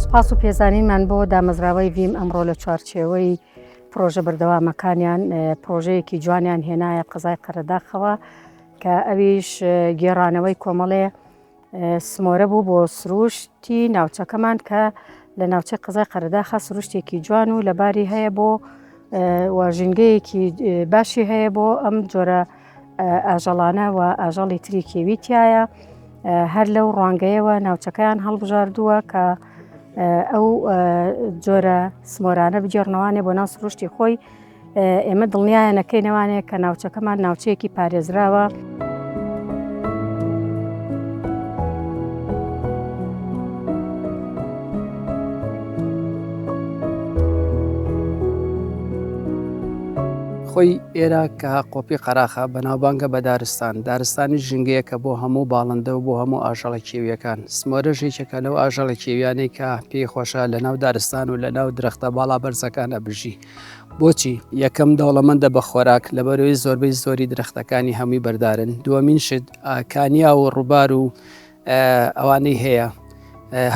سوپاس و پێزانینمان بۆ دامەزراوەی ڤیم ئەمڕۆ لە چوارچێوەی پرۆژە بەردەوامەکانیان پرۆژەیەکی جوانیان هێنایە قەزای قەرەداخەوە کە ئەویش گێڕانەوەی کۆمەڵێ سمۆرە بوو بۆ سروشتی ناوچەکەمان کە لە ناوچەی قزای قەرداخە سروشتێکی جوان و لەباری هەیە بۆ ژینگەیەکی باشی هەیە بۆ ئەم جۆرە ئاژەڵانە و ئاژەڵی تری کێویتایە هەر لەو ڕوانگەیەوە ناوچەکەیان هەڵبژاردووە کە ئەو جۆرە سمۆرانە بگێڕنەوانێ بۆ ناو سروشتی خۆی ئێمە دڵنیایە نەکەی نەوانەیە کە ناوچەکەمان ناوچەیەکی پارێزراوە. خۆی ئێرە کە قۆپی قەراخە بەناوبانگە بە دارستان دارستانی ژنگەیە کە بۆ هەموو باڵندە و بۆ هەموو ئاژەڵە کێویەکان سمۆرە ژێکێکە لەو ئاژەڵە کێویانەی کە پێی خۆشە لە ناو دارستان و لە ناو درەختە باڵا بەرزەکانە بژی بۆچی؟ یەکەم دەوڵەمەندە بە خۆراک لەبەرەوەی زۆربەی زۆری درەختەکانی هەمووی بەردارن دووەمین شت کانیا و ڕووبار و ئەوانەی هەیە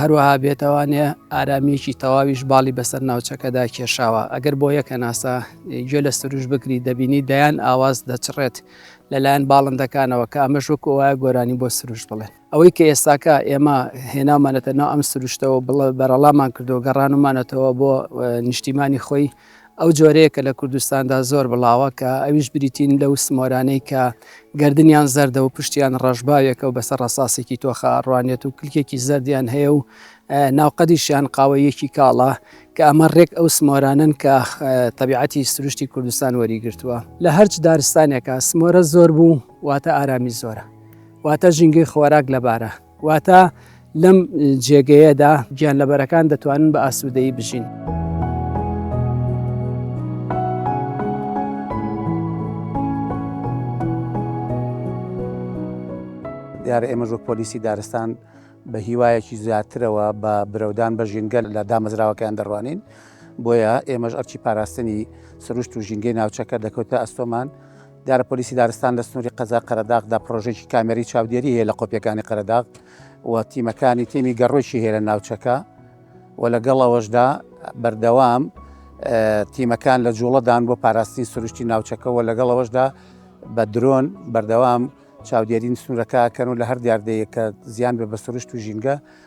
هەروەها بێتوانێ ئارامیەکی تەواویش باڵی بەسەر ناوچەکەدا کێشاوە ئەگەر بۆ یەکە ناسا گوێ لە سروش بگری دەبینی دەیان ئاواز دەچڕێت لەلایەن باڵندەکانەوە کە ئەمەش وەکو وایە گۆرانی بۆ سروش بڵێن ئەوەی کە ئێستاکە ئێمە هێناومانەتە ناو ئەم سروشتەوە بڵە بەرەڵامان کردو گەڕانمانەتەوە بۆ نیشتیمانی خۆی ئەو جۆرەیە کە لە کوردستاندا زۆر بڵاوە کە ئەویش بریتین لەو سمۆرانەی کە گردنیان زەردە و پشتیان ڕەشباوێکە و بەسەر ڕساسێکی تۆخە ڕوانێت و کلکێکی زەردیان هەیە و ناوقەدیشیان قاوەیەکی کاڵە کە ئەمە ڕێک ئەو سمۆرانن کە تەبیعەتی سروشتی کوردستان وەریگرتووە لە هەرچ دارستانێکە سمۆرە زۆر بوو واتە ئارامی زۆرە واتە ژینگەی خۆراک لەبارە واتە لەم جێگەیەدا گیان لەبەرەکان دەتوانن بە ئاسوودەی بژین. دیارە ئێمە ژۆک پۆلیسی دارستان بە هیوایەکی زیاترەوە بە برەودان بە ژینگەل لە دامەزراوەکەیان دەڕوانین بۆیە ئێمەش ئەرچی پاراستنی سروشت و ژینگەی ناوچەکە دەکەوتە ئەستۆمان دیارە پۆلیسی دارستان لە سنووری قەزای قەرەداغدا پڕۆژێکی کامێری چاودێری هەیە لە قۆپیەکانی قەرەداغ و تیمەکانی تێمی گەڕۆکی هەیە لە ناوچەکە و لەگەڵ ئەوەشدا بەردەوام تیمەکان لە جوڵەدان بۆ پاراستنی سروشتی ناوچەکەەوە لەگەڵ ئەوەشدا بە درۆن بەردەوام چاودێرین سنوورەکە کەن و لە هەر دیاردەیە کە زیان بە بە سروشت و ژینگە